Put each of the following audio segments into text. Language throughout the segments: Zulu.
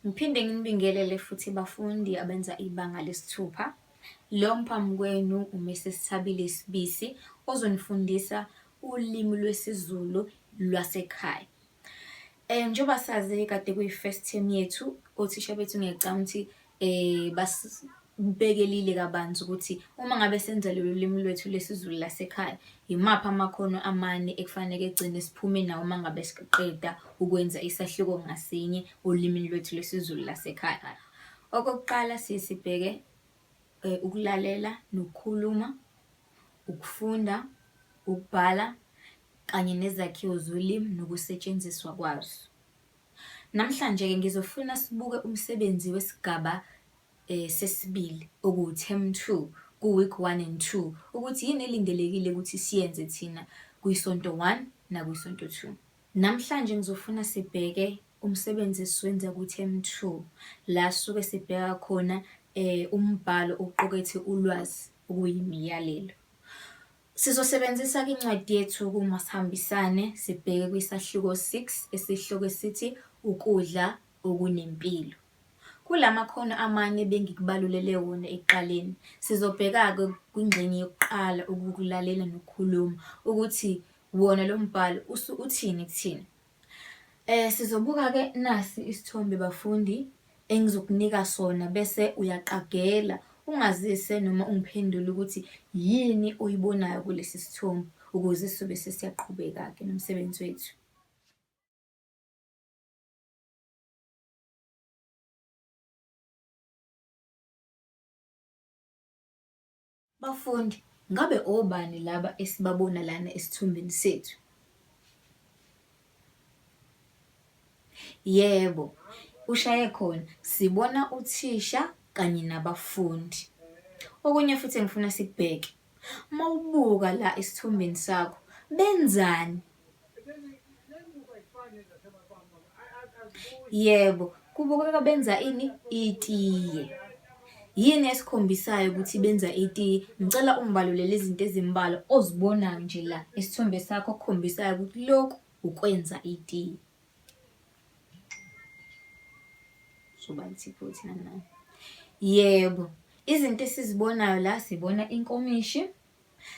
Ngiphinde nginibingelele futhi bafundi abenza ibanga lesithupha. Lo mphambi kwenu uMrs Thabile Sibisi ozonifundisa ulimi lwesiZulu lwasekhaya. Eh njengoba sazi kade kuyi-first term yethu, othisha bethu ngiyacabanga ukuthi eh basibekelile kabanzi ukuthi uma ngabe senza lolu limi lwethu lesiZulu lasekhaya yimaphi amakhono amane ekufanele egcine siphume nawo uma ngabe siqeda ukwenza isahluko ngasinye olimini lwethu lwesiZulu lasekhaya. Okokuqala siye sibheke eh, ukulalela nokukhuluma, ukufunda, ukubhala kanye nezakhiwo zolimi nokusetshenziswa kwazo. Namhlanje-ke ngizofuna sibuke umsebenzi wesigaba um sesibili okuwu-term two ku-week one and two ukuthi yini elindelekile ukuthi siyenze thina kwisonto one nakwisonto two. Namhlanje ngizofuna sibheke umsebenzi esiwenza ku-term two la sisuke sibheka khona um umbhalo oqukethe ulwazi okuyimiyalelo. Sizosebenzisa-ke incwadi yethu kuMasihambisane sibheke kwisahluko 6 esihloko esithi Ukudla Okunempilo. Kula makhono amane ebengikubalulele wona ekuqaleni, sizobheka-ke kwingxenye yokuqala, ukukulalela nokukhuluma, ukuthi wona lo mbhalo uthini kuthina. Eh sizobuka ke nasi isithombe bafundi engizokunika sona bese uyaqagela ungazise noma ungiphendule ukuthi yini oyibonayo kulesi sithombe ukuze sizobe sesiyaqhubeka ke nomsebenzi wethu. Bafundi, ngabe obani laba esibabona lana esithombeni sethu? Yebo, ushaye khona. Sibona uthisha kanye nabafundi. Okunye futhi engifuna sikubheke, uma ubuka la esithombeni sakho, benzani Yebo, kubukeka benza ini? Itiye. Yini esikhombisayo ukuthi benza itiye? Ngicela ungibalulele izinto ezimbalwa ozibonayo nje la isithombe sakho okukhombisayo ukuthi lokhu ukwenza itiye. Soba nsipho thina nayo. Yebo, izinto esizibonayo la sibona inkomishi.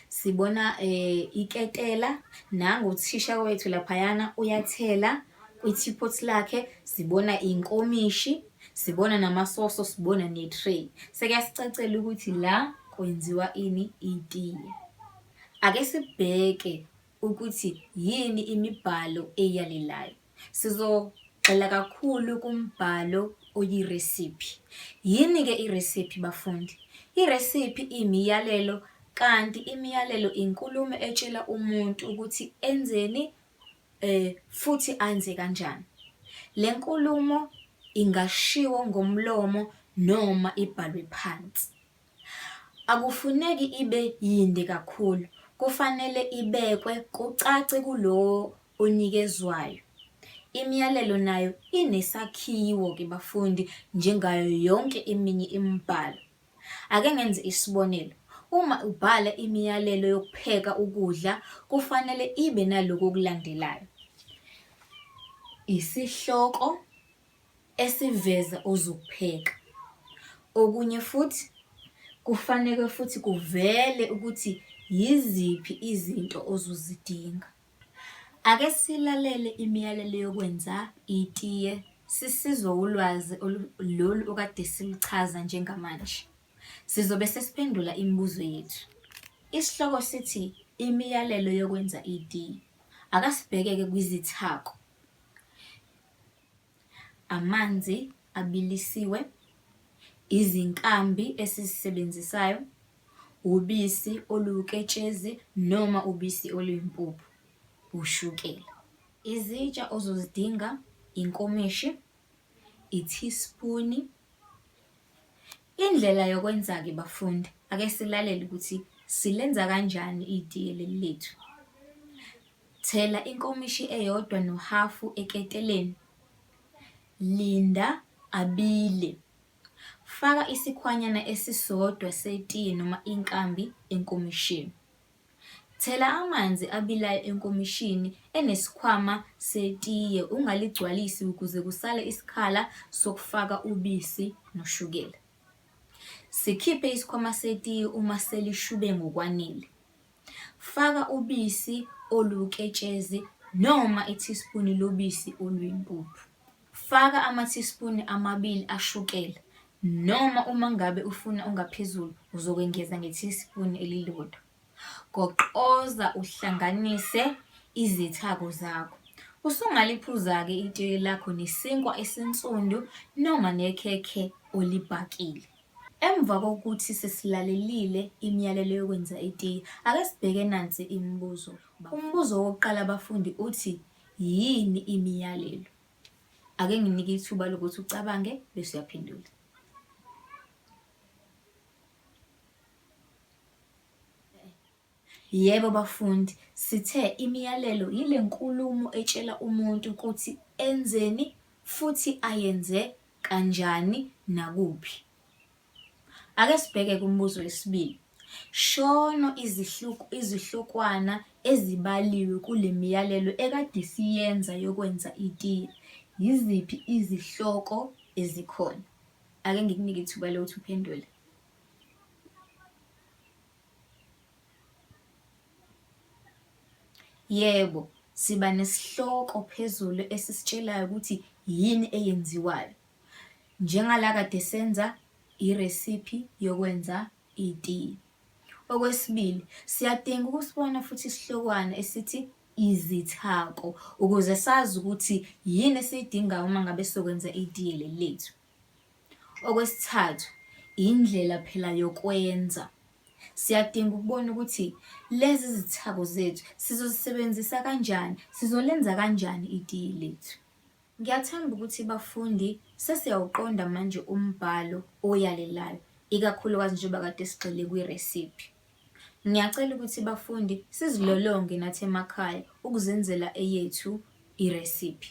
sibona eh iketela nangu uthisha wethu laphayana uyathela kwi-teapot lakhe sibona inkomishi sibona namasoso sibona ne-tray sekuyasicacela ukuthi la kwenziwa ini itiye ake sibheke ukuthi yini imibhalo eyalelayo Sizogxila kakhulu kumbhalo oyiresiphi. Yini-ke iresiphi bafundi? Iresiphi imiyalelo kanti imiyalelo inkulumo etshela umuntu ukuthi enzeni um futhi anze kanjani. Le nkulumo ingashiwo ngomlomo noma ibhalwe phansi. Akufuneki ibe yinde kakhulu, kufanele ibekwe kucace kulowo onikezwayo. Imiyalelo nayo inesakhiwo ke bafundi njengayo yonke eminye imibhalo. Ake ngenze isibonelo. Uma ubhala imiyalelo yokupheka ukudla kufanele ibe naloko okulandelayo. Isihloko esiveza ozokupheka. Okunye futhi kufaneke futhi kuvele ukuthi yiziphi izinto ozozidinga. Ake silalele imiyalelo yokwenza itiye sisizwa ulwazi lolu okade siluchaza njengamanje. Sizobe sesiphendula imibuzo yethu. Isihloko sithi imiyalelo yokwenza itiye. Akasibhekeke kwizithako. amanzi abilisiwe, izinkambi esizisebenzisayo, ubisi oluwuketshezi noma ubisi oluyimpuphu, ushukela. Izitsha ozozidinga inkomishi, ithisipuni, Indlela yokwenzake bafundi ake silalele ukuthi silenza kanjani itiye leli lethu. Thela inkomishi eyodwa nohafu eketeleni. Linda abile. Faka isikhwanyana esisodwa setiye noma inkambi enkomishini. Thela amanzi abilayo enkomishini enesikhwama setiye ungaligcwalisi ukuze kusale isikhala sokufaka ubisi noshukela. Sikhiphe isikhwama setiye uma selishube ngokwanele. Faka ubisi oluwuketshezi noma ithisipuni lobisi oluyimpuphu. Faka amathisipuni amabili ashukela noma uma ngabe ufuna ongaphezulu uzokwengeza ngethisipuni elilodwa. Goqoza uhlanganise izithako zakho. Usungaliphuza-ke itiye lakho nesinkwa esinsundu noma nekhekhe olibhakile. Emva kokuthi sesilalelile imiyalelo yokwenza itiye, ake sibheke nansi imibuzo. Umbuzo wokuqala bafundi uthi Yini imiyalelo? Ake nginike ithuba lokuthi ucabange bese uyaphendula. Yebo bafundi, sithe imiyalelo yile nkulumo etshela umuntu ukuthi enzeni futhi ayenze kanjani nakuphi. Ake sibheke kumbuzo wesibili. Shono izihluku izihlokwana ezibaliwe kule miyalelo ekade siyenza yokwenza itiye. Yiziphi izihloko ezikhona? Ake ngikunike ithuba lokuthi uphendule. Yebo, siba nesihloko phezulu esisitshelayo ukuthi yini eyenziwayo. Njengala kade senza iresiphi yokwenza itiye. Okwesibili, siyadinga ukusibona futhi isihlokwana esithi izithako ukuze sazi ukuthi yini esiyidingayo uma ngabe sokwenza itiye leli lethu. Okwesithathu, indlela phela yokwenza. Siyadinga ukubona ukuthi lezi zithako zethu sizozisebenzisa kanjani, sizolenza kanjani itiye lethu. Ngiyathemba ukuthi bafundi sesiyawuqonda manje umbhalo oyalelayo ikakhulukazi njengoba kade sigxile kwiresiphi. Ngiyacela ukuthi bafundi sizilolonge nathi emakhaya ukuzenzela eyethu iresiphi.